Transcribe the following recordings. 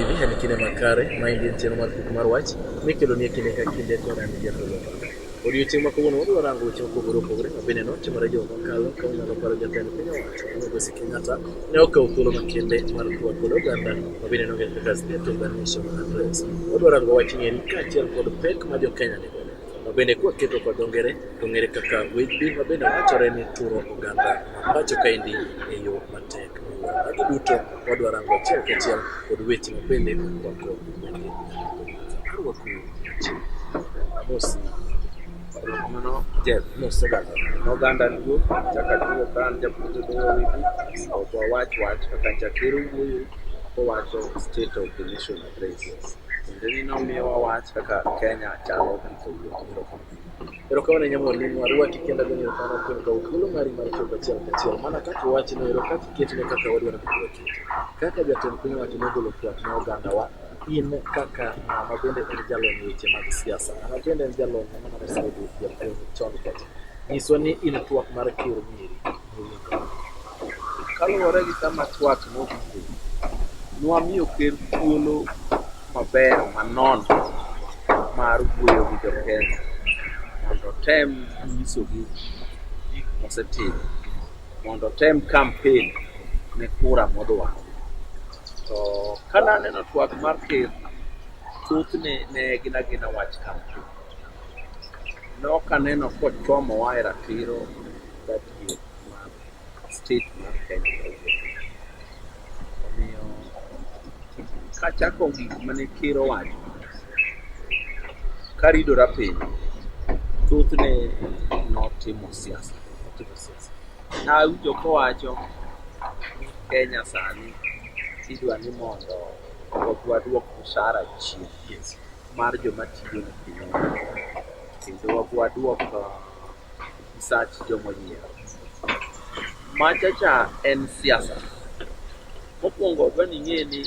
Vision kinde makare ma en en chenro mar puk mar wach mikelo ni e kinde ka kinde to ran jatho loka. Odiochieng' ma kawuono wadwa rango weche mopogore opogore ma bende notimore juma mokalo ka unyalo paro jatend piny owacho Migosi Kenyatta ne okawo thuolo makende mar twak kod oganda ma bende nong'ere kaka State of the Nation Address. Wadwa rango wach ni eri kaachiel kod pek ma jo Kenya nigo ma bende kwa keto kod dho ngere to ng'ere kaka wage bill ma bende wachore ni turo oganda ma pacho kaendi e yo matek. Magi duto wadwa rango achiel kachiel kod weche mabende wako arwaku mosi mano jet mosegaga noganda luo chaka luo kan japuonjo dhowa wigi ok wawach wach kaka chakero wuoyo kowacho state of the nation address kendo ni nomiyowa wach kaka kenya chalo kaka wuoyo Erokamano ahinya mwalimu, arwaki kendo agoni erokamano kuom kawo thuolo mari mar chopo achiel kachiel. Mana kaka iwachno ero, kaka iketne kaka wadwaro ni mondo okete. Kaka jatend piny owacho nogolo twak ne ogandawa, in kaka ng'ama bende en jalony e weche mag siasa, ng'ama bende en jalony ng'ama nade osebedo jatelo chon kacha, nyiswa ni in twak mar ker Nyeri, mowinjore. Kaluwore gi kama twak nowuoke, nwamiyo ker thuolo maber manono mar wuoyo gi jokenya mondo otem nyisogi gik mosetimo mondo otem kampen ne kura modwaro. To ka naneno twak mar ker, thothne ne gin agina wach kampen. Nokaneno kochomowa e ratiro gadier mar state mar Kenya omiyo kachako gik mane ker owacho karidora piny thothne notimo siasa notimo siasa nawinjo kowacho ni Kenya sani idwa ni mondo wadwok mshahara chien mar joma tiyo ne piny kendo wadwok Sach jomoyier. Machacha en siasa. Mokwongo dwa ni ing'e ni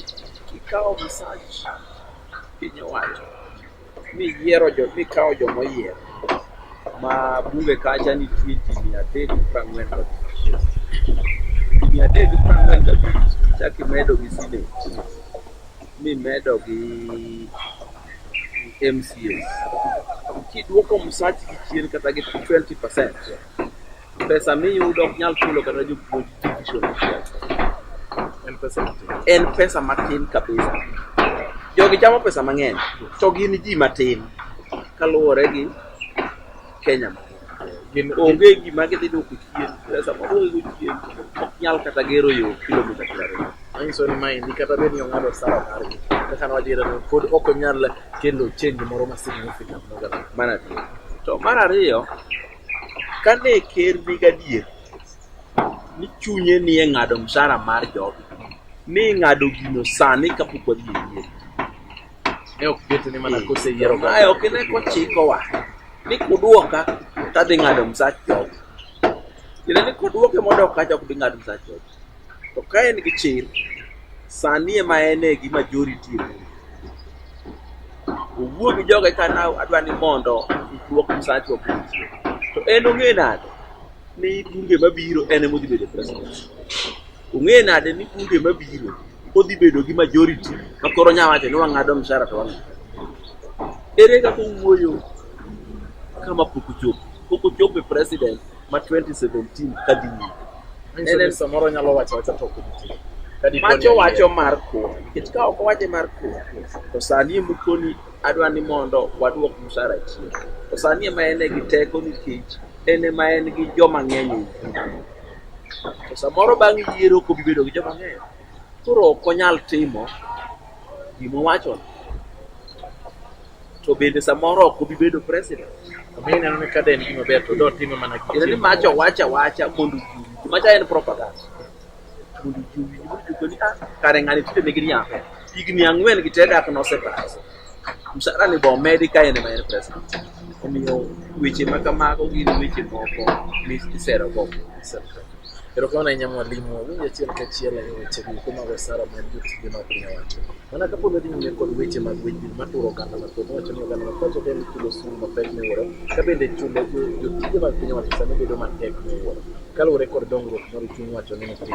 kikawo misach piny owacho miyiero jo mikawo jomoyier ma bunge kacha nitie ji mia adek prang'wen gabich mia adek prang'wen gabich chaki medo gi sinet mimedo gi MCAs. Kiduoko msachi chien kata gi 20%, pesa miyudo ok nyal chulo kata jopuonj division achiel. En pesa matin. En pesa matin kabisa. Jogi chamo pesa mang'eny, to gin ji matin kaluwore gi Kenya mangima. gin onge gima gidhi duoko chien kata sama duoko go chien ok nyal kata gero yo kilomita piero ariyo manyiso ni maendi kata bed ni ong'ado sara margi kaka nwajiera ni pod ok onyal kelo change moro ma significant ne oganda mana ti to mar ariyo ka ne ker ni gadier ni chunye ni e ng'ado msara mar jogi ni ng'ado gino sani kapok wadhi e yiero Ne ok ket ni mana kose yiero Mae ok ine kochikowa ni kuduoka to adhi ng'ado msach job. Tiende ni koduoke mondo ok kacha ok bi ng'ado msach job. To ka en gi chir, sani ema en e gi majority e bura. Owuo gi joge ka na adwa ni mondo duok msach job. To en ong'e nade ni bunge mabiro en ema odhi bedo president? Ong'e nade ni bunge mabiro odhi bedo gi majority ma koro nya wacho ni wang'ado mshahara to wang'ado. Ere kaka owuoyo kama pok ochopo? Pok ochopo e president ma 2017 ka dhi nyime. Manyiso ni samoro nyalo wacho wacha to ok nitie. Ka dipo ni Macho en wacho mar kuo. Nikech ka ok owache mar kuo, to sani ema ukoni adwa ni mondo waduok mshahara chien. To sani ema en e gi teko nikech en ema en gi joma ng'eny e uganda. To samoro bang' yiero kobi bedo gi joma ng'eyo. Koro ok onyal timo gima owacho. To bende samoro ok obi bedo president. Omiyo ineno ni kada en gima ber to do time mana gi Kendo ni mach owacho awacha mondo ji owinj. Macha en propaganda. Mondo ji owinj mondo ji owinj ni ah, kare ng'ani tinde nigi riambo. Higni ang'wen gi te dak nosepaso. Msara ni bo medi ka en ma en president. Omiyo weche ma kamago gin weche moko misero go. Erokamano ahinya mwalimu, awinjo achiel kachiel e weche duto mag osara mag jotije mag piny owacho. Mana ka pod wadhi nyime kod weche mag weche maturo oganda mathoth, wacho ni oganda mathoth ok en chulo osuru mapek miwuoro, ka bende chulo jo- jotije mag piny owacho sani bedo matek miwuoro, kaluwore kod dongruok mar chuny wacho ni piny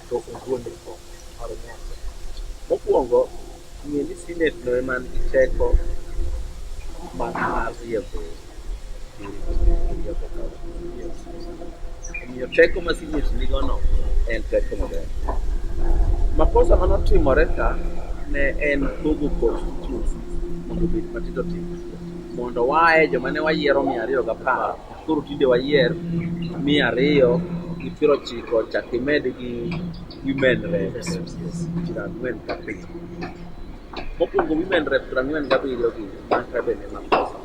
to ogole oko mar nyaka. Mokwongo, ng'e ni Senate no ema nigi teko mar mar riembo omiyo teko ma Senate nigono en teko maber. Makosa mane otimore ka ne en pogo constituency mondo obed matindo tindo mondo waye joma ne wayiero mia ariyo gapar Koro tinde wayier mia ariyo gi piero ochiko chak imed gi women rep piero ang'wen gabiriyo. Mokwongo women rep piero ang'wen gabiriyo gi man ka bende ma pesa.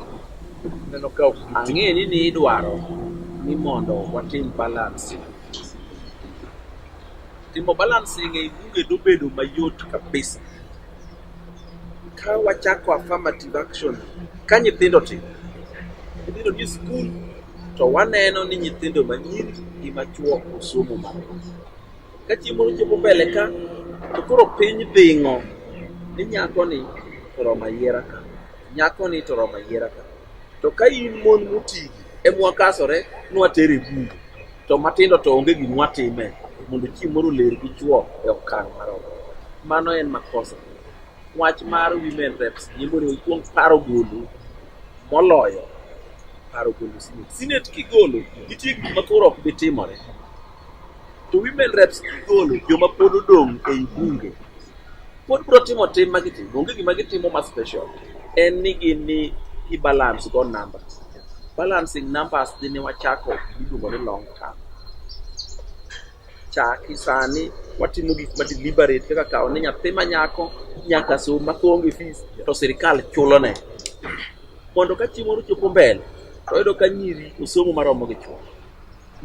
Neno ka ok giti. Ang'e ni ni idwaro ni mondo watim balancing. Timo balancing ei bunge dobedo mayot kabisa. Ka wachako affirmative action ka nyithindo tin, nyithindo ni skul to waneno ni nyithindo manyiri gi machuo osomo marom. Ka chieng' moro chopo mbele ka to koro piny dhing'o ni nyakoni to oromo ayiera ka, nyakoni to oromo ayiera ka. To ka in mon motigi e mwakasore nwater e bungu, to matindo to onge gima watime mondo chi moro ler gi chwo e okang' maromo. Mano en makosa. Wach mar women reps ni mondo ikwong paro golo moloyo paro golo sinet. Sinet kigolo nitie gik ma koro ok bi timore. To women reps gigolo joma pod odong' ei bunge pod bro timo tim ma gitimo onge gima gitimo ma special en ni gin ni gi balance go number balancing numbers dhi ne wachako miluongo ni long term chaki sani watimo gik ma deliberate kaka kawo ni nyathi ma nyako nyaka som ma onge fees to sirikal chulo ne mondo ka chieng' moro chopo mbele to oyudo ka nyiri osomo maromo gi chuo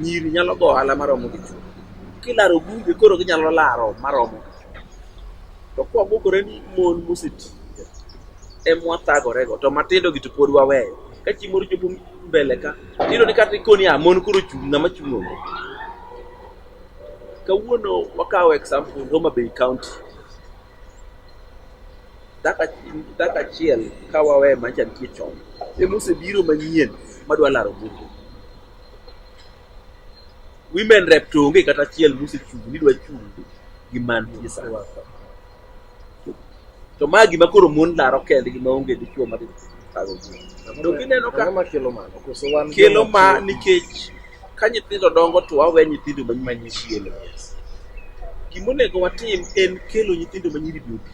Nyiri nyalo go ohala maromo gi chuo. Kilaro bunge koro ginyalo laro maromo gi chuo. To kwa bukore ni mon moseti e mwatagore go to matindo gi to pod waweyo. Ka chi moro chopo mbele ka, tiyudo ni kata ikoni a mon koro chung' ng'ama chung' onge. Kawuono wakawo example Homa Bay County. Daka daka achiel ka wawe macha nitie chon. Emosebiro manyien madwa laro bunge. women rep to onge kata achiel mosechung' ni dwa chung' gi mantie sa to ma gima koro mon laro kendgi ma onge dichwo ma to kineno ka kelo ma nikech ka nyithindo dongo to wawe nyithindo manyinyi chielo gima onego watim en kelo nyithindo manyiri duto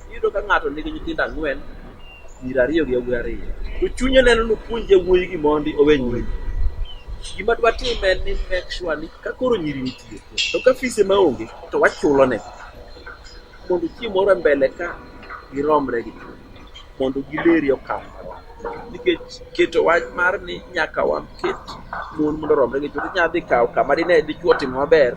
iyudo ka ng'ato nigi nyithindo ang'wen piero ariyo gi yawuoyi ariyo to chunye neno ni opuonj yawuoyi gi mondi owe nyiri gima dwa tim en ni make sure ni ka koro nyiri nitie to ka fise ma onge to wachulo ne mondo chieng' moro e mbele ka giromre gi mondo gileri okang' nikech keto wach mar ni nyaka waket mon mondo oromre gi chwo inyalo dhi kawo kama dine dichwo otimo maber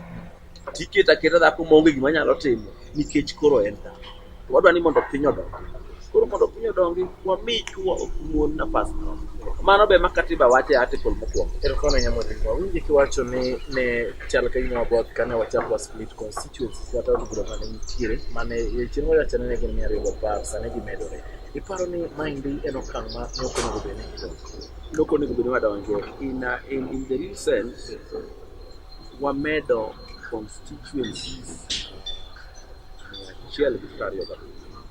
Tiketo aketa dhako maonge gima nyalo timo nikech koro en dhako. To wadwa ni mondo piny odongi. Koro mondo piny odongi, wami chwo ok mon nafas moro. Mano be ma katiba wacho e article mokwongo. Erokamano Nyamodingo. Awinjo kiwacho ni ne chal ka gima waboth kane wachako wa split constituencies kata od bura mane nitiere mane chieng' wawacho ni ne gin mia ariyo gapar sani gimedore. Iparo ni maendi en okang' ma ne ok onego bed ni idonjo? Loko onego bed ni wadonje in, a- in, in the real sense wamedo constituencies mia achiel gi piero ariyo gabiriyo.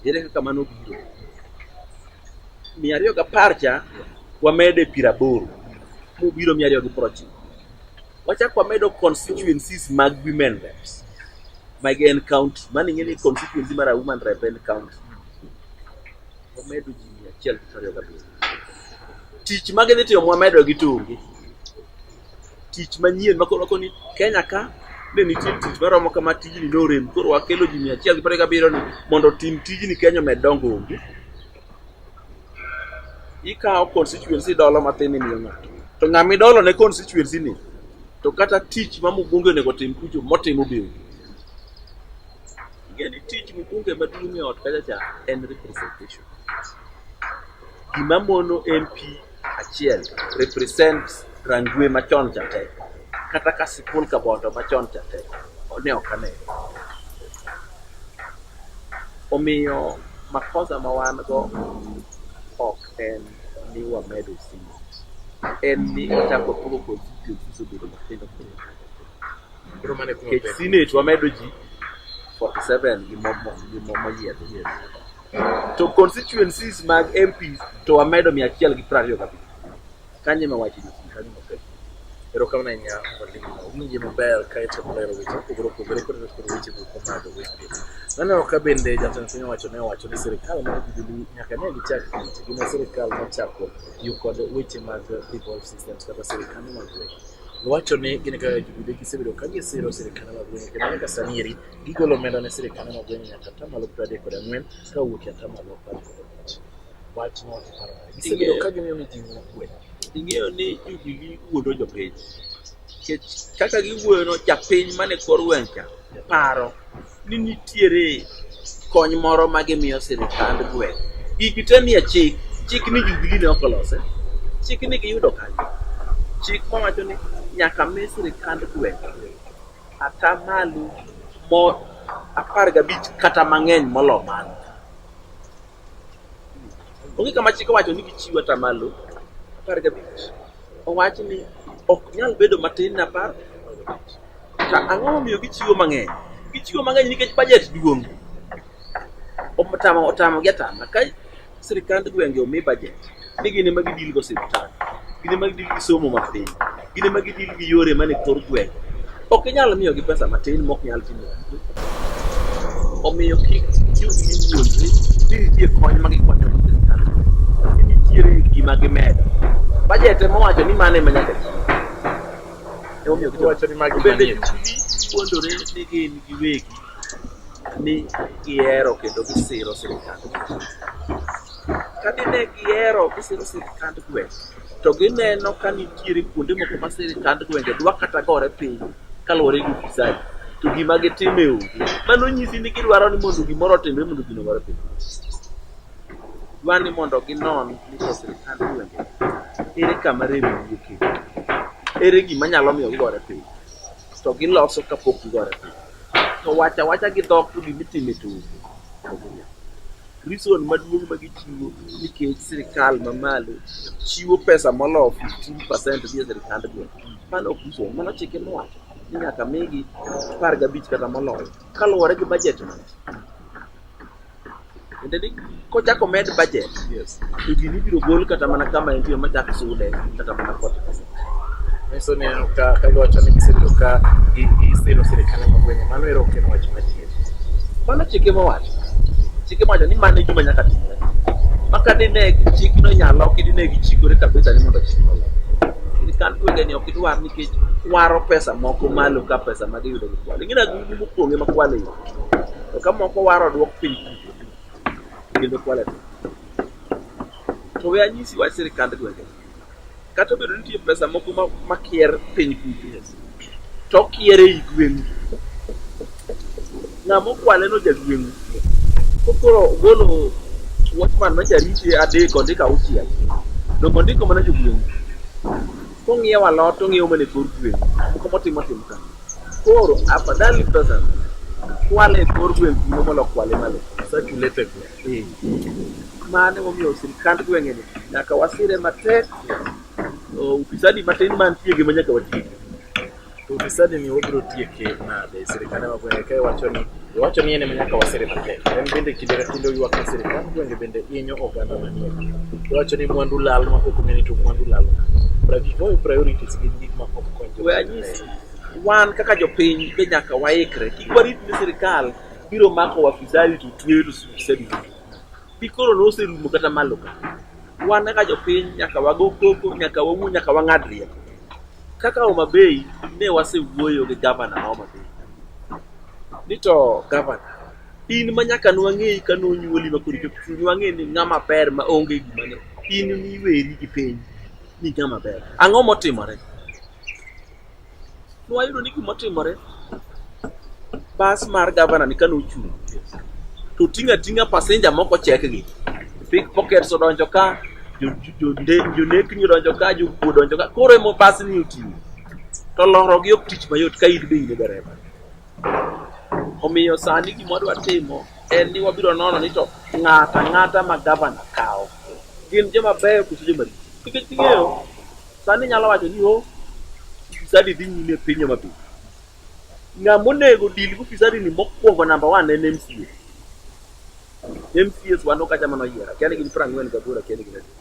Ere kaka mano biro? Mia ariyo gapar cha wamedo e piero aboro mobiro mia ariyo gi piero ochiko. Wachako wamedo constituencies mag women reps mag en county, mano ing'e ni constituency mar women rep en county Wamedo ji mia achiel gi piero ariyo gabiriyo. Tich ma gidhi timo wamedo gi tungi. Tich manyien makoro wako ni Kenya ka ne nitie tich maromo kama tijni norem koro wakelo ji mia achiel gi piero ariyo gabiriyo ni mondo otim tijni Kenya omed dongo onge. Ikawo constituency idolo matin imiyo ng'ato. To ng'ama idolo ne constituency ni to kata tich ma Mugungi onego otim kucho motimo be onge. Yani tich mbunge maduong' e ot kacha cha en representation. Gima mono MP achiel represent Rangwe machon cha te kata ka Sipul Kabondo machon cha te ne ok ane. Omiyo makosa ma wan go ok en ni wamedo simu, en ni ochako pogo constituencies obedo matindo tindo. Kech Senate wamedo ji 47 gi moyiedhi. To constituencies mag MPs to wamedo 125. Kanye ma wachi kanye ma pek. Pero kama na nya walimu wingi maber kae to maler weche mopogore opogore kod kod weche moko mag weche. Naneno ka bende jatend piny owacho ne owacho ni sirkal mar Jubilee nyaka ne gichak tich gi ma sirkal nochako tiyo kod weche mag devolved systems kata sirkal mag weche. Owacho ni gin kaka jobude gisebedo ka gisiro sirkande mag gwenge kendo nyaka sani eri gigolo omenda ne sirkande mag gwenge nyaka atamalo piero adek kod ang'wen ka owuok e atamalo apar kod abich. Wachno iparo nade? Gisebedo ka gimiyo mijing'o kwe. Ing'eyo ni yugi giwuondo jopiny. Nikech kaka giwuoyono japiny mane kor gweng' cha paro ni nitiere kony moro ma gimiyo sirikand gweng'. Gigi te nie chik, chik ni Jubilee ne ok olose, chik ni giyudo kanye? Chik mawacho ni nyaka mi sirikand gweng' atamalo mo apar gabich kata mang'eny molo mano. Onge kama chik owacho ni gichiw atamalo apar gabich. Owach ni ok nyal bedo matin ne apar To ang'o momiyo gichiwo mang'eny? Gichiwo mang'eny nikech bajet duong'. Otamo otamo gi atama. Ka sirkand gwenge omi bajet, ni gin ema gidil go siptal, gin ema gidil gi somo mapiny, gin ema gidil gi yore man e kor gwenge. Ok inyal miyogi pesa matin mok nyal timo. Omiyo kik yud ni wuondre ni nitie kony ma gikwanyo gi sirkal. Nitiere gima gimedo. Bajet ema owacho ni mano ema nyaka ti. Emomiyo gidwaro. Wacho ni magi To bende manie. chunyi puonjore ni gin giwegi ni gihero kendo gisiro sirkand gweng'. Ka dine gihero gisiro sirkand gweng' to gineno ka nitiere kuonde moko ma sirkand gwenge dwa kata gore piny kaluwore gi ufisadi to gima gitime onge. Mano nyisi ni gidwaro ni mondo gimoro otimre mondo gino gore piny. dwa ni mondo ginon ni to sirkand gwenge ere kama remo wuokie, ere gima nyalo miyo gigore piny, to giloso kapok gigore piny. To wacha wacha gi dhok to gima itimo e tung' reason maduong' ma gichiwo nikech sirkal mamalo chiwo pesa moloyo 15% dhi e sirkand gweng'. Mano ok reason, mano chike mowacho ni nyaka migi apar gabich kata moloyo kaluwore gi budget man. Tiende ni kochak omed budget Yes. to gini ibiro gol kata mana kama entie machak sude kata mana kod pesa. Nyiso ni aneno ka ka giwacho ni gisebedo ka gi- gisiro sirkal ma gwenge mano ero ok en wach madier. Mano chike mowacho. Chike mowacho ni mano e gima nyaka timre. Maka dine chikno nyalo ok dine gichikore kabisa ni mondo chikno olok. Sirkal gwenge ni ok idwar nikech waro pesa moko malo ka pesa ma giyudo gi kwale. Ing'e na gini mopong'e ma kwale yo. To ka moko war odwok piny kucho kendo kwale. To we anyisi wach sirkand gwenge. Kata obedo ni nitie pesa moko ma- makier piny kucho, to okier ei gweng'u. Ng'ama okwale no jagweng'u. Kokoro ogolo watchman ma jarite adek ondik auchiel. Dongo ondiko mana jogweng'u. Kong'iewo alot to ong'iewo mana e kor gweng', moko motimo tim ka. Koro afadhali pesa kwale e kor gweng' kuno molo kwale malo. Circulate gweng'. Mano emomiyo sirkand gweng'eni nyaka wasire matek. Ufisadi matin mantie gi ma nyaka watieki. Ufisadi ni wabiro tieke nade? Sirkande ma gwenge kae wacho ni wacho ni en ema nyaka wasire matek. En bende kinde ka kinde oywak ni sirkand gwenge bende hinyo oganda manie. Wacho ni mwandu lal ma ok ong'e ni to mwandu lal nga. Pragikoi priorities gin gik ma ok konyo jo We are gwenge. used. wan kaka jopiny be nyaka waikre kik warit ni sirikal biro mako wafisadi to tweyo to sirikal Pi koro noserumo kata malo ka. Wan kaka jopiny nyaka wago koko, nyaka wawuo, nyaka wang'ad rieko. Kaka Homa Bay ne wasewuoyo gi gavana ma Homa Bay ni to gavana in ma nyaka nwang'eyi ka nonyuoli ma koro ichopo chuny wang'e ni ng'ama ber ma onge gima ne in miweri gi piny ni ng'ama ber. Ang'o motimore? Nwayudo ni gima otimore, bas mar gavana ni kane ochung' to ting'a ting'a pasenja moko chekgi. Pick pockets odonjo ka, jo- jo- jonde- jonekni odonjo ka, jokuo odonjo ka. Koro emo bas ni oting'o. To lorogi ok tich mayot ka in be in e dereva. Omiyo sani gima wadwa timo en ni wabiro nono ni to ng'ata ng'ata ma gavana kawo gin joma beyo koso joma richo. Nikech ing'eyo Sani inyalo wacho ni o fisadi dhi nyime e piny Homa Bay. Ng'ama onego deal gi fisadi ni mokwongo namba one en MCA. MCAs wan okacha mana oyiera, kia ni gin piero ang'wen gaboro, kia ni gin adi.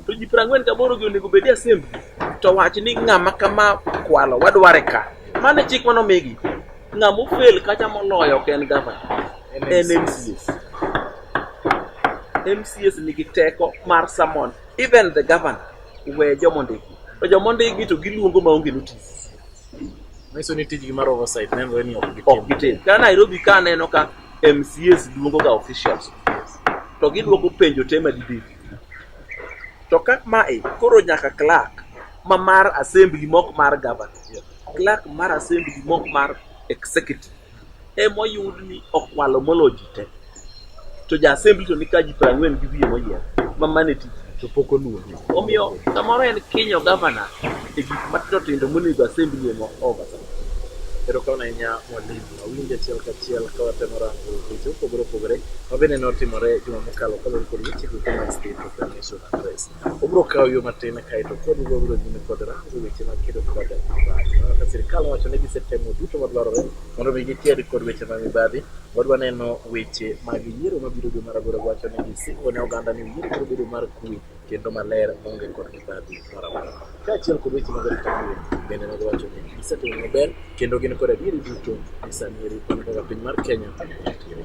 To ji piero ang'wen gaboro gi onego bedi assembly to wach ni ng'ama kama kwalo wadware ka. Mano e chik mane omigi. Ng'ama ofel kacha moloyo ok en gavana, en MCAs. MCAs nigi teko mar summon Even the governor we jomo ndiki. To jomo ndiki to giluongo maonge notice. Nyiso ni tijgi mar oversight nenore ni ok gitim. Ok gitim. Ka Nairobi ka aneno ka MCAs luongo ga officials to giduoko penjo te madibedi. To ka mae koro nyaka clerk ma mar assembly mok mar governor. Clerk mar assembly mok mar executive. ema oyud ni okwalo molo ji te to ja assembly to ni ka ji piero ang'wen gi wiye moyier ma mane tich to pok oluongi omiyo samoro en kinyo gavana e gik matindo tindo monego assembly ema ovasa Ero kaw ahinya mwalimu, awinjo achiel kachiel ka watemo rango weche mopogore opogore ma bende notimore juma mokalo kaluwore kod weche duto mag State Proclamation Address. Obiro kawo yo matin kae to pod ibiro biro nyime kod rango weche mag kedo kod ajali mibadhi. Mana ka sirkal owacho ni gisetemo duto madwarore mondo mi giked kod weche mag mibadhi, wadwa neno weche mag yiero mabiro dwe mar aboro wacho ni gisingo ne oganda ni yiero biro bedo mar kuwe kendo maler maonge kod mibadhi moro amora. Kaachiel kod weche mag rito kuwe bende ne giwacho ni gisetimo maber kendo gin kod adieri duto ni sani eri kaka piny mar Kenya nitiere.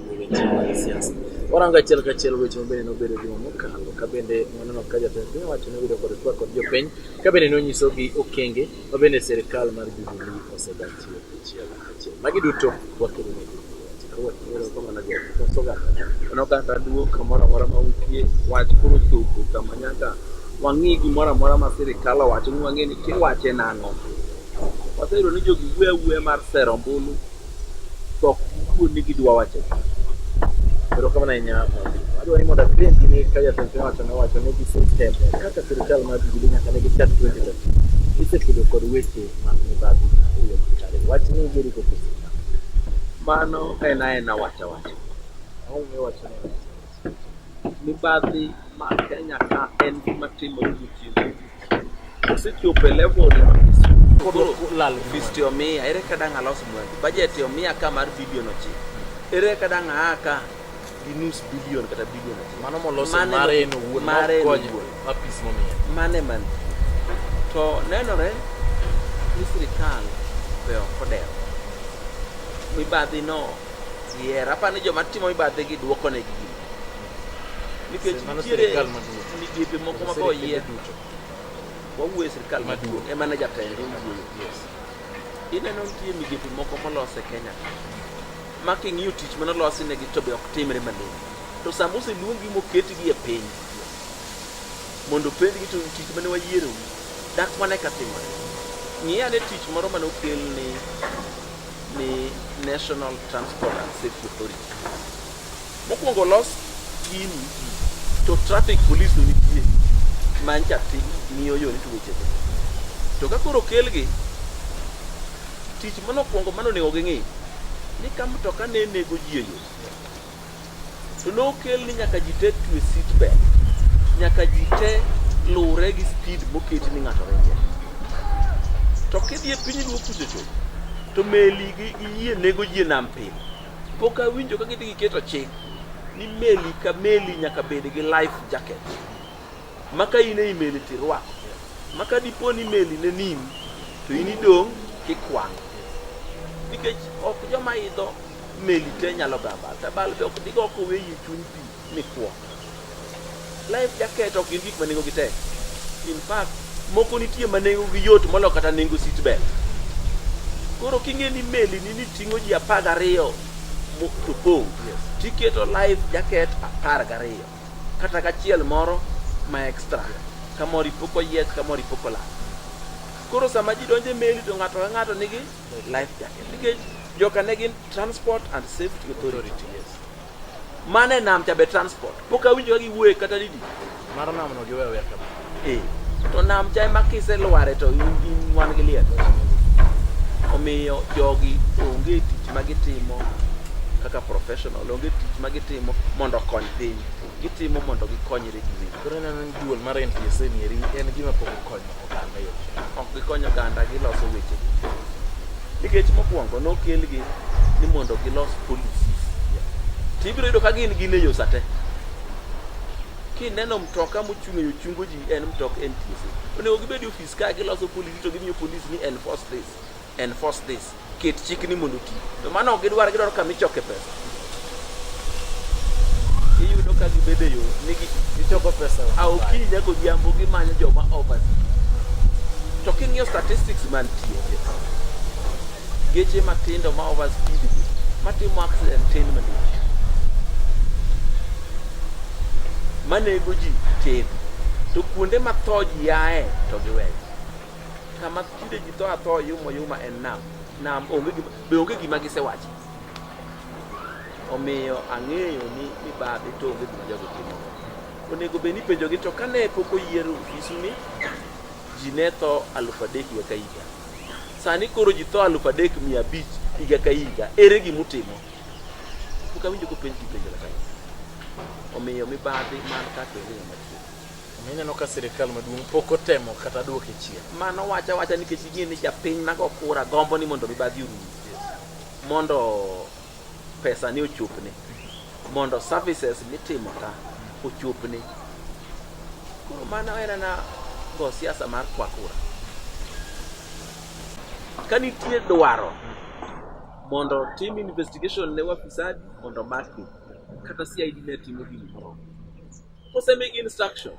Warango achiel kachiel weche mabende nobedo juma mokalo ka bende waneno ka jatend piny owacho nobedo kod twak kod jopiny ka bende nonyisogi okenge ma bende sirikal mar Jubilee osedachiwo achiel achiel. Magi duto wakelo ne oganda duo kamoro amora ma wukie wach koro chopo kama nyaka wang'i gimoro amora ma sirikal owacho ni wang'e ni kiwache nang'o. Waseyudo ni jogi wuoyo awuoya mar sero ombulu to ok giwuo ni gidwa wacho gima. Koro kamano ahinya Mwalimu. Adwa ni mondo apenji ni ka jatend piny owacho nowacho ni gisestem kaka sirkal mar Jubilee nyaka ne gichak 2013 gisekedo kod weche mag mibadhi e yo makare. Wach ni giriko pesa. Mano en aena wacha wacha. Aonge wacho ni wacha wacha. Mibadhi ma Kenya ka en gima timore gotieno Osechopo e level koro lal fisti omiya ere ka dang' alos mwandu budget omiya ka mar bilion ochiko ere ka dang' aa ka gi nus bilion kata bilion achiel mano moloso Mane- mare en owuon mare en makonyo owuon. apis momiye mane man to nenore ni sirikal be ok odewo mibadhi no iher apa ni joma timo mibadhi gi dwoko ne gi gima nikech nitiere migepe moko ma koyier wawuo e sirkal maduong' ema ne jatend wuoyo ineno nitie migepe moko molos e kenya ma king'iyo tich mane olosi negi to be ok timre malong'o to sama oseluongi moketgi e piny mondo openjgi to tich mane wayiero dak mana ka timore ng'i ane tich moro mane okel ni ni national transport and safety authority Mokwongo los gini to traffic police no nitie ma ncha ti ng'iyo yo nitu weche te. To ka koro kelgi tich mano kwongo mano onego ging'i ni ka mtoka ne nego ji e yo to nokel ni nyaka ji te twe seat belt nyaka ji te luwre gi speed moket ni ng'ato ringe to kidhi e piny luo kuchocho to meli gi gi yie nego ji e nam pile Pok awinjo ka gidhi giketo chik ni meli ka meli nyaka bed gi life jacket ma ka in ei meli to irwako ma ka dipo ni meli ne nini to in idong' kikwang' nikech ok joma idho meli te nyalo gamba tabal be ok digo kowe yie chuny pi mikwo. Life jacket ok gin gik ma nengo gi tek. In fact, moko nitie ma nengo gi yot molo kata nengo seat belt. Koro king'e ni meli ni ni ting'o ji apar gariyo to pong' tiketo life jacket apar gariyo kata gachiel moro ma extra kamoro ipoko yiet kamoro ipoko lak koro sama ji donjo e meli to ng'ato ka ng'ato nigi life jacket nikech joka ne gin transport and safety authority Mane nam cha be transport. Pok awinjo ka giwuoye kata didi. Mar nam no giwe wer kama. Eh. To nam cha ema kiselware to in in wan gi liel. Omiyo jogi onge tich ma gitimo kaka professional, onge tich ma gitimo mondo okony piny. Gitimo mondo gikonyre giwegi. Koro ineno ni duol mar NTSA ni eri en gima pok okonyo. oganda yo. Ok gikonyo oganda giloso weche. Nikech mokwongo nokelgi ni mondo gilos policies. To ibiro yudo ka gin gin e yo sate. Kineno mtoka mochung' e yo chungo ji en mtok NTSA. Onego gibed e ofis ka giloso policy to gimiyo police ni enforce this. Enforce this. Ket chikni mondo oti. To mano ok gidwar gidwaro kama ichoke pesa. Iyudo ka gibedo e yo ni gichoko pesa. A okinyi nyaka odhiambo gimanyo joma over. To king'iyo statistics mantie geche matindo ma over speed matimo accident tin malich manego ji tin to kuonde matho ji yae to giweyo kama Tinde ji tho atho yuma yuma en nam. Nam onge gima be onge gima gisewacho. Omiyo ang'eyo ni ni babe to onge gima jago timo. Onego be ni penjo gi to kane pok oyier ofisu ni ji ne tho alufu adek higa ka higa. Sani koro ji tho alufu adek mia abich higa ka higa. Ere gima utimo? Pok awinjo kopenj gi penjo kata. Omiyo mibadhi man ka to onge ng'ama Ineno ka sirkal maduong' pok otemo kata duoke chien. Mano wacha wacha nikech gin ni japiny mago kura gombo ni mondo mibadhi orum. Mondo pesa ni ochopne. Mondo services mitimo ka ochopne. Koro mano en na go siasa mar kwa kura. Ka nitie dwaro mondo tim investigation ne wafisadi mondo makgi kata CID ne timo gimoro Kosemigi instruction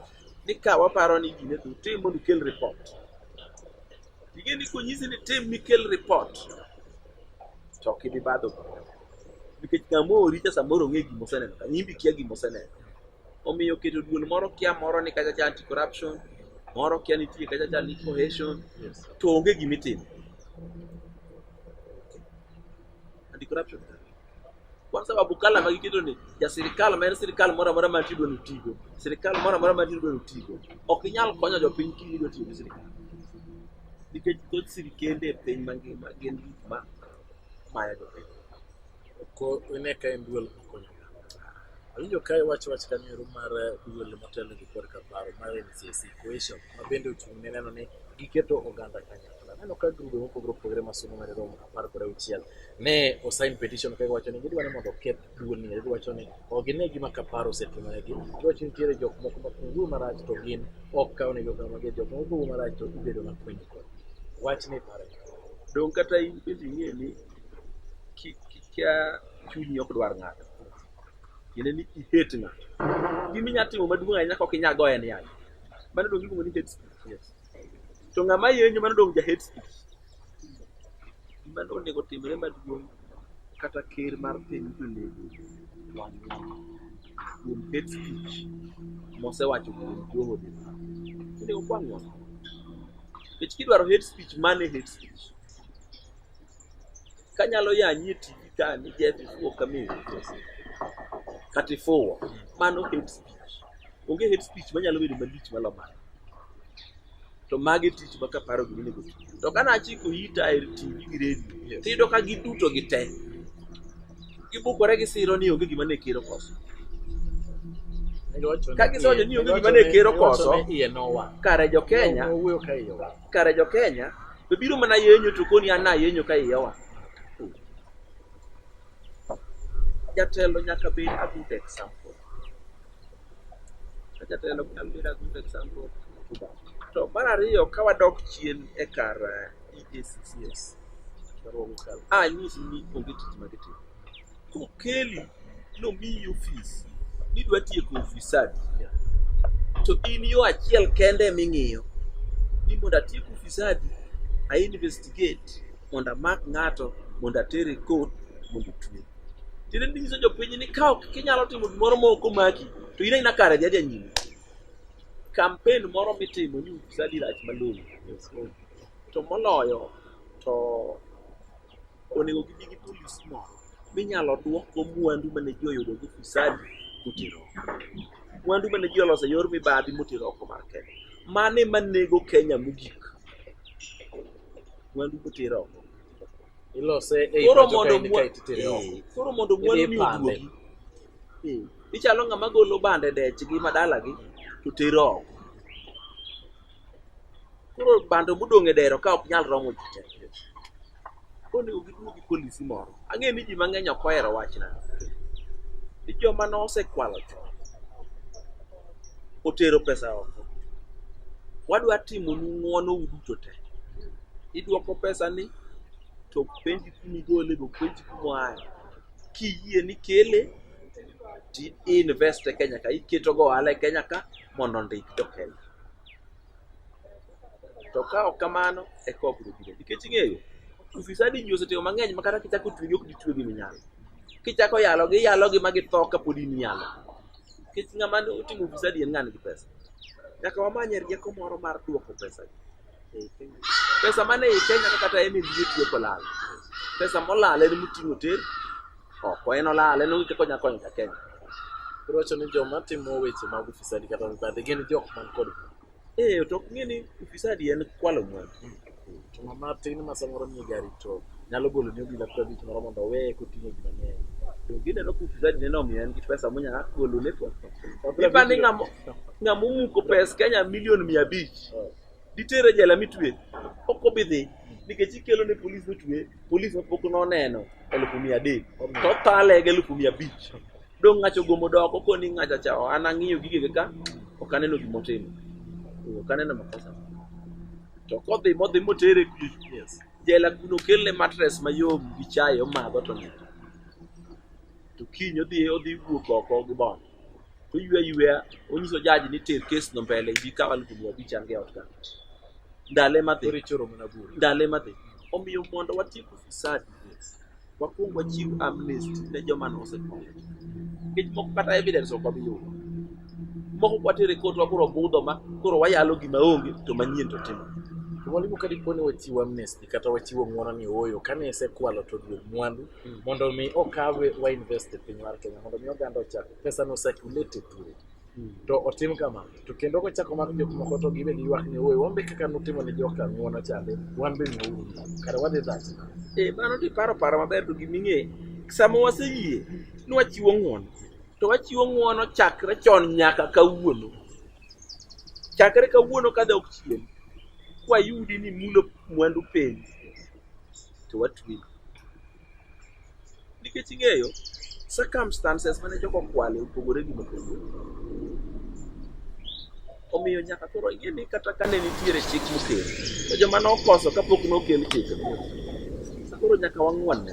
ni ka waparo ni gine to tim mondo ikel report. Tige ni konyisi ni tim mikel report to ok ibi badho bura. Nikech kama oori cha samoro ong'e gima oseneno ka nyimbi kia gima oseneno. Omiyo keto duol moro kia moro ni kacha cha anti corruption, moro kia nitie kacha cha ni cohesion, to onge gima itimo. Anti corruption. Kwa sababu kala ma giketo ni ja sirkal ma en sirkal moro amora ma tido ni tigo, sirkal moro amora ma tido ni tigo, ok inyal konyo jopiny kiyie ni otiyo gi sirkal. Nikech thoth sirkende e piny mangima gin gik ma mayo jopiny. Ko ine ka en duol makonyo. Awinjo ka iwacho wach kanero mar eh, duol motelo gi korka paro mar NCC Cohesion ma bende ochung' ne neno ni giketo oganda kanyakla. Aneno ka grube mopogore opogore ma somo ma romo apar kod auchiel ne osign petition ka giwacho ni gidwa ni mondo oketh duolni giwacho ni ok gine gima kaparo osetimoregi giwacho ni nitiere jok moko ma kungu marach to gin ok kaw negi okang' mager jok moko kungu marach to ibedo makwiny kod wach ni pare dong kata in bende ing'e ni ki- kikia chunyi ok dwar ng'ato tiende ni ihet ng'ato gima inyalo timo maduong' ahinya kok inyalo goye ni yaye mano dong iluongo ni hate speech yes. to ng'ama yenyo mano dong ja hate speech Gima nonego otimre maduong' kata ker mar piny onego wang' ng'ama kuom hate speech mosewacho kuom Joho Dema. Onego kwang' ng'ama. Nikech kidwaro hate speech, mane hate speech. Kanyalo yanyi e TV ka ni Jeff Ifuwo Kamil kata Ifuwo, mano hate speech. Onge hate speech manyalo bedo malich maloyo mano. to magi tich ma kaparo gima onego ti to ka nachiko ita e tv gi redio Yes. to iyudo ka giduto gi te gibukore gi siro ni onge gima ne kero koso Ka gisojo ni onge gima ne kero koso. iye nowa kare jo kenya owuoyo ka iye wa kare jo kenya to biro mana yenyo to koni an nayenyo ka iyawa jatelo nyaka bed a good example Jatelo Kambira good example. To mar ariyo ka wadok chien e kar eh, EACCS, a nyisi ni onge tich ma gitimo. Kokeli nomiyi ofis ni dwa tieko ofisadi, to in yo achiel kende ming'iyo ni mondo atiek ofisadi, a investigate mondo amak ng'ato mondo atere court mondo otwe. Tiende ni nyiso jopiny ni ka ok kinyalo timo gimoro ma ok omaki to in aina kare dhi adhiya nyime. Kampen moro mitimo ni usadi rach malong'o to moloyo to onego gibi gi polisi moro minyalo duokgo mwandu mane ji oyudo gi ufisadi motero oko. Mwandu mane ji oloso e yor mibadhi motero oko mar Kenya. Mano ema nego Kenya mogik. Mwandu motero oko. ilose ei Koro pacho mondo kaendi mwa- kaeto itere oko Eh, koro mondo Idhi mwandu ni ipande. oduogi Eh, ichalo ng'ama golo bande dechgi ma dalagi to tero oko koro bando modong' e dero ka ok nyal romo ji te koni giduogi polisi moro ang'e ni ji mang'eny ok ohero wachna ni joma nosekwalo chon otero pesa oko. Wadwa timonu ng'wono uduto te. Idwoko pesani to ok penji kuma igole be ok penji kuma oaye. Kiyie ni ikele to i-invest e Kenya ka, iketo go ohala e Kenya ka mondo ondik jo Kenya. To ka ok kamano eka wabiro biro. Nikech ing'eyo, ufisadi ji osetimo mang'eny ma kata kichako twegi ok ditwegi minyalo. Kichako yalogi iyalogi ma githo kapod in iyalogi. nikech ng'ama ne otimo ufisadi en ng'an gi pesa nyaka wamanye rieko moro mar duoko pesa pesa mane ei kenya ka kata en ebie tiyo kolal pesa molal en moting'o ter oko en olal en onge kaka onya konyo ja kenya Koro wacho ni joma timo weche mag ufisadi kata mibadhi gin jok man kod Eh, to ok ng'e ni ufisadi en kwalo mwandu. To ng'ama tin ma samoro nie gari to nyalo golo ni obila pesa bich moro mondo owe koting'o ji mang'eny. To gineno ka ufisadi neno omiyo en gi pesa monya golo ne kwa. Ipa ni ng'amo ng'amo muko pes Kenya milion mia abich. Ditere jela mitwe. Ok obi dhi. Nikech ikelo ne polis mitwe, polis ma pok noneno elufu mia adek. To thale gi elufu mia abich. dong' ng'acha ogomo doko koni ng'acha cha oh, an ang'iyo gigege ka ok aneno gima otimo Eh, ok aneno makosa to kodhi modhi motere ku Yes. jela kuno kelne matres mayom gi chae omadho to nindo to kiny odhi odhi wuok oko gi bon to ywe yweya onyiso jaji ni ter kes no mbele ibi kaw alufu mia abich an ge ot ka ndale madhi Koro ichoro mana bura. ndale madhi omiyo mondo watiek ufisadi Wakuong wachiw amnesty ne joma nosetho. Nikech moko kata evidence ok wabi yudo. Moko kwatere kot wakoro budho ma koro wayalo gima onge to manyien to timo. Mwalimu, ka dipo ni wachiwo amnesty kata wachiwo ng'wono ni ooyo, kane isekwalo to duog mwandu hmm. mondo mi okawe wainvest e piny mar Kenya mondo mi oganda ochak pesa no circulate e thuolo. to otim kama to kendo kochako mako jok moko to gibe giywak ni owe wan be kaka nutimo ne joka ng'wono chande wan be ng'uru kare wadhi dhati e mano to iparo paro maber to giming'e sama waseyie ni wachiwo ng'wono to wachiwo ng'wono chakre chon nyaka kawuono chakre kawuono ka dok chien kwayudi ni mulo mwandu piny to watweyi nikech ing'eyo circumstances mane jogo okwale opogore gi mopogore omiyo nyaka koro ing'e ni kata kane nitiere chik mokel to joma nokoso kapok nokel chik koro nyaka wang'wanne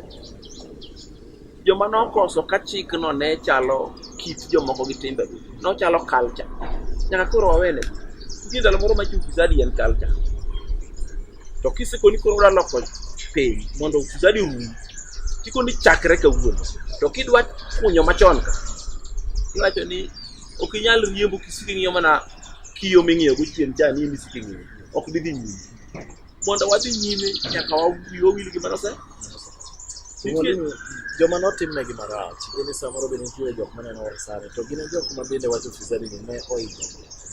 joma nokoso ka chikno ne chalo kit jomoko gi timbegi nochalo culture nyaka koro wawene nitie ndalo moro ma chufisadi en culture To kiseko ni koro udwa loko piny mondo ufisadi rum, tiko ni chakre kawuono. To kidwa kunyo machon ka, iwacho ni ok inyal riembo kisiko ing'iyo mana kiyo ming'iyo go chien cha ni misiko ing'iyo. Ok didhi nyime. Mondo wadhi nyime nyaka wawi wawil gi manose. Nitie- joma notimnegi marach gini samoro be nitie jok maneno wasani to gin e jok ma bende wacho fisadi ni ne oidho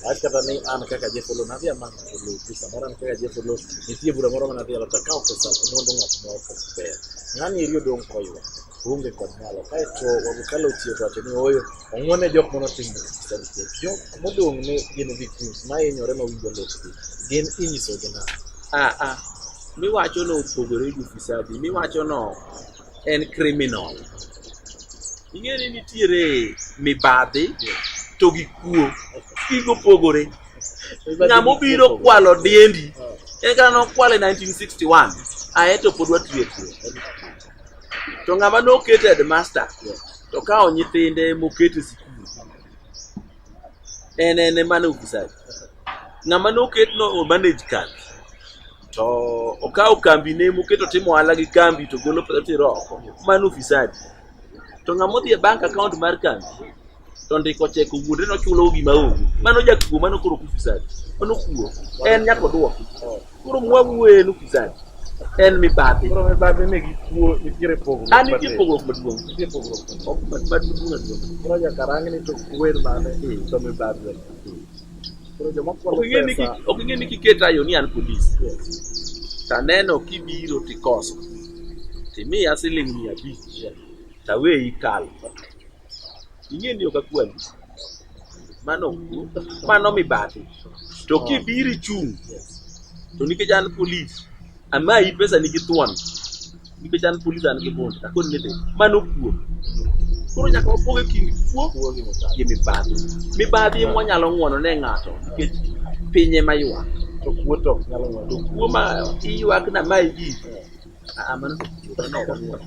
Wach kata ni an kaka Jeff Oloo nadhi amany Oloo tu samoro an kaka Jeff Oloo nitie bura moro manadhi alo takawo pesa mondo ng'at moro kod ber. Ng'ani eri odong' koywa onge kod nyalo kaeto wabukalo otiyo wacho ni oyo ong'wone jok mano timo sanitet jok modong' ne gin victims ma hinyore ma winjo lopgi gin inyisogi na aa miwacho no opogore gi ufisadi miwacho no en criminal. Ing'e ni nitiere mibadhi to gi kuo. Gigo opogore. Ng'ama obiro kwalo diendi en kata nokwale 1961 ae to pod watiyo kuo. To ng'ama noket headmaster to kawo nyithinde moket e sikul en en emane ofisadi. Ng'ama noket no manage kambi to okawo kambi ne moketo timo ohala gi kambi to golo pesa tero oko mano ufisadi to ng'ama odhi e bank account mar kambi to ndiko chek owuonde nochulo gima onge mano jakuo mano koro ufisadi mano kuo en nyaka odwoki koro mwawuo en ufisadi en mibadhi Koro mibadhi ni gi kuo nitiere pogruok. an nitie matin. pogruok maduong' Nitie pogruok. Ok, mad- mad- maduong' maduong'. Koro nyaka rang ni to kuwer mane to mibadhi. Koro joma Ok kwalo ing'e ni pesa ki- ok ing'e ni kiket ayo ni an polis taneno kibiro tikoso timiya siling mia abich taweyi kalo ing'e ni ok akwali mano mano mibadhi to kibiro ichung' to nikech an polis Amayi pesa nigi thuon nikech an polis an gi bond akoni ni dhi mano kuo koro nyaka wapog e kind kuo gi mibadhi mibadhi ema wanyalo ng'wono ne ng'ato nikech piny ema ywak to kuo to ok nyalo ng'wono to kuo ma iywak na mayi ji ah, ah, mano to kuo, mano ok ong'wono.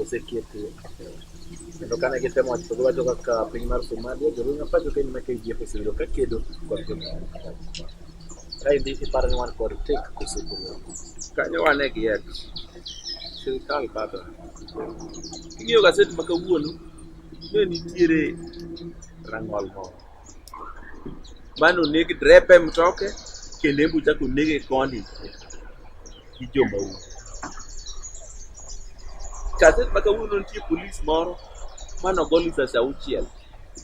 osekete kendo kane gitemo wacho gi wacho kaka piny mar Somalia jolweny mapacho kendo ma KDF osebedo ka kedo kod jolweny kaendi iparo ni wan kod tek koso kanyo wane gi et sirikal bado ing'iyo gaset ma kawuono ne nitiere rang'ol moro mane oneg drepe mtoke kelembu chako nege koni gi jomaundu kaset ma kawuono nitie polis moro mane ogol risasi auchiel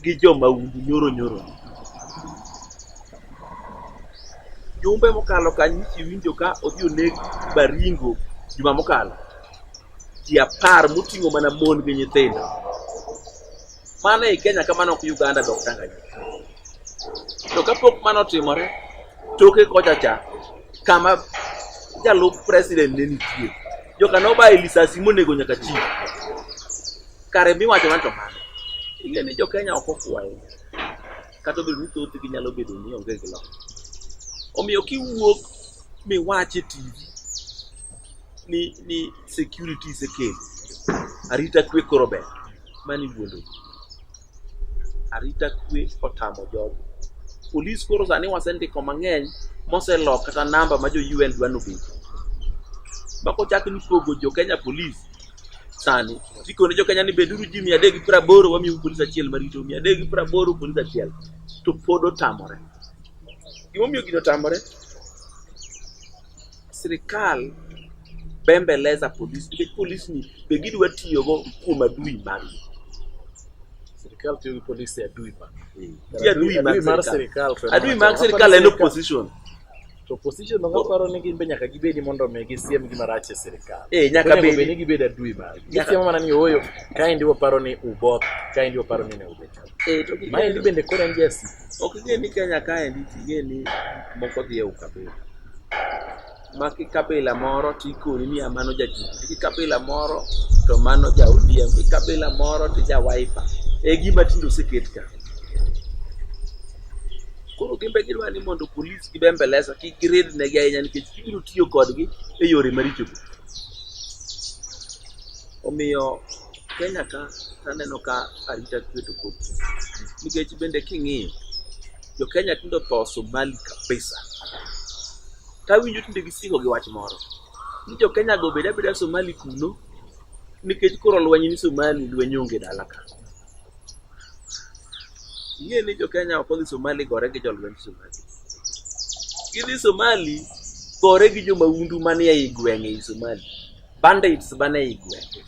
gi jomaundu nyoro nyoro jumbe mokalo kanyo iwinjo ka odhi oneg baringo juma mokalo ji apar moting'o mana mon gi nyithindo Mano e Kenya kamano ok Uganda dok Tanganyika. To kapok mano otimore, toke kocha cha kama jalup president ne nitie, joka nobaye lisasi monego nyaka chi. Kare miwacho na to mano. Ing'e ni jo-Kenya ok okwayo. Kata obedo ni thothgi nyalo bedo ni onge gi lony. Omiyo kiwuok miwach e TV ni, ni security isekelo, arita kwe koro ber. mani wuondo ji. Arita kwe otamo jogo. Polis koro sani wasendiko mang'eny moselok kata namba ma jo UN dwa nobed. Ma kochak ni pogo jo Kenya polis sani tikone jo Kenya ni beduru ji mia adek gi piero aboro wamiu polis achiel marito mia adek gi piero aboro polis achiel to pod otamore. Gimomiyo gino otamore sirkal bembeleza polis nikech polis ni be gidwa tiyogo kuom adui margi Sirkal tiyo gi polis e adui ma. Ti adui mag Adui mar sirkal. sirkal. to en adui wach. mag sirkal en opposition To opposition ok paro ni gin be nyaka gibedi mondo mi gisiem gima rach e sirkal. Eh, nyaka Onego bedi. bed ni gibed adui mar. Nyaka- Gisiemo mana ni ooyo, kaendi waparo ni uboth, kaendi waparo ni ne ubet. Eh, to gi- Maendi bende koro en jasi. Ok ing'e ni Kenya kaendi ting'e ni moko dhi e ukabila. Ma kikabila moro to ikoni ni mano ja Jubilee, kikabila moro to mano ja ODM, kikabila moro to ja Wiper. E gima tinde oseket ka. Koro gin be gidwa ni mondo polis gi bembeleza kik girid negi ahinya nikech gibiro tiyo kodgi e yore maricho. Omiyo Kenya ka aneno ka arita kwe to pok nikech bende king'iyo jo Kenya tindo tho Somali kabisa. Tawinjo tinde gisiko gi wach moro ni jo Kenya go beda beda Somali kuno nikech koro lweny ni Somali lweny onge dala ka. Ing'e ni jo Kenya ok odhi Somali gore gi jolwenj Somali. Gidhi Somali gore gi jo mahundu manie i gwenge i Somali. bandits mane igwenge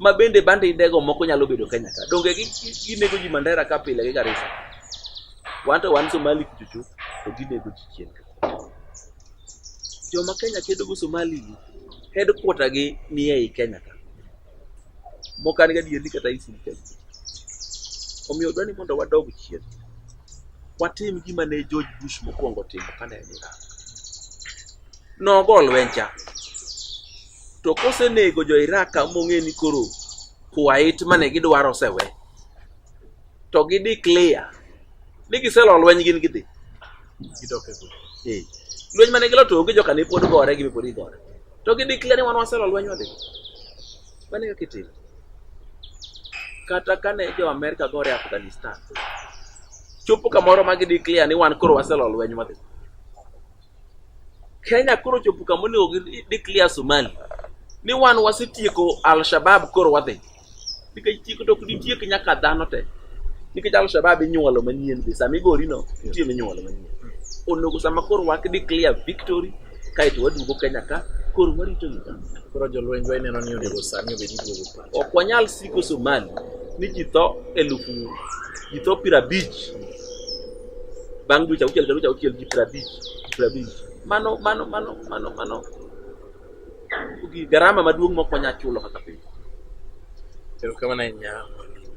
ma bende bandidego moko nyalo bedo Kenya ka donge ginego ji Mandera ka pile gi Garissa wan to wan Somali kuchuchu to ginego ji chien joma Kenya kedo go Somali headquarter gi ni ei Kenya ka moko an gadieri kata isin Kenya omiyo dwa ni mondo wadog chien watim gima ne George Bush mokwongo timo kane en Iraq nogo lweny cha to kosenego jo iraq ka mong'e ni koro kuwait mane gidwaro osewe to gi declare ni giselo lweny gin gidhi Gidok e gweng'. Eh, lweny mane gilo to onge joka ne pod gore gi pod igore to gi declare ni wan waselo lweny wadhi mane kaka itimo kata kane jo Amerika gore e Afghanistan chopo kamoro ma gi declare ni wan koro waselo lweny wadhi Kenya koro chopo kama onego gi declare Somali ni wan wasetieko Al-Shabab koro wadhi nikech tieko to ok ditiek nyaka dhano te nikech Al-Shabab inyuolo manyien be sama igori no nitie minyuolo manyien onego sama koro wak declare victory kaeto waduogo Kenya ka koro warito Uganda Koro jolwenjwa ineno ni onego sani obed iduogo pa. Ok wanyal siko Somali ni ji tho elufu ji tho piero abich bang' dweche auchiel dweche auchiel ji piero abich piero abich mano mano mano mano mano garama maduong' mok wanyal chulo kaka piny. Erokamano ahinya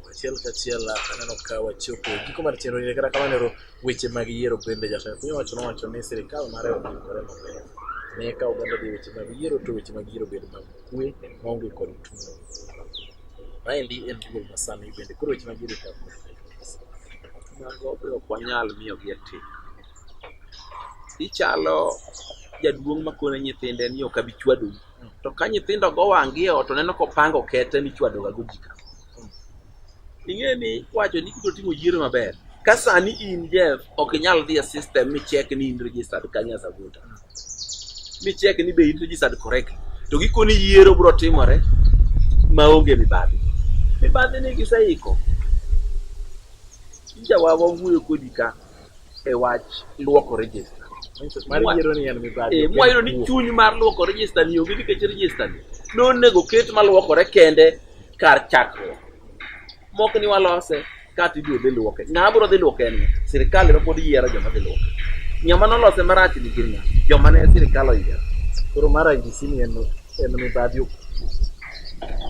achiel kachiel aneno ka wachopo giko mar chenro ni kata kamano ero weche mag yiero bende jatend piny owacho nowacho ni sirikal mare oikore maber ne ka oganda dhi weche mag yiero to weche mag yiero bedo mag kwe maonge kod tulo. Maendi en duol masani bende koro weche mabiro ka mago be ok wanyal miyo gi atim. Ichalo jaduong' makone nyithinde ni ok abi chwadou. To ka nyithindo go wang' gi e ot to neno kopango kete michwadoga go ji ka. ing'e ni wacho ni kibiro timo yiero maber ka sani in jeff ok inyal dhi e system michek ni in registered kanye as a voter michek ni be in registered correct to gikoni yiero biro timore maonge mibadhi mibadhi ni giseiko jawawa wuoyo kodi ka e wach luoko register mar yiero ni en mibadhi Eh, ok en mwayudo ni kuo. chuny mar luoko register ni onge nikech register ni nonego ket maluokore kende kar chakruok mok ni walose kata ibiro dhi luoke ng'ama biro dhi luoke en ng'a? sirikal ema pod yiero joma dhi luoke ng'ama nolose marach ni gin ng'a joma ne sirikal oyiero koro mar IBC ni en en mibadhi ok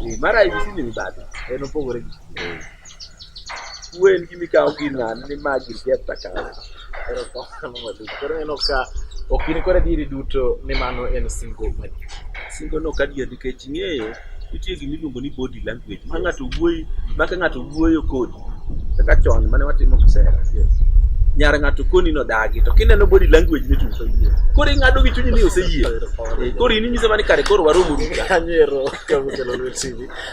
Eh, mar IBC ni mibadhi en opogore gi Wen gi mikawo gir ng'ani ni ma gir Jeff Takare. Erokamano maduong'. Koro ineno ka ok in kod adieri duto ni mano en singo madier. Singo no kadier nikech ing'eyo nitie gima iluongo ni body language ma ng'ato wuoyi ma ka ng'ato wuoyo kodi kaka chon mane watimo kisera nyar ng'ato koni no dagi to kineno body language ni chutho yie koro ing'ado gi chunyi ni oseyie Eh, koro in inyise mani kare koro waromo ruta Anyero ka mukelo lwet TV.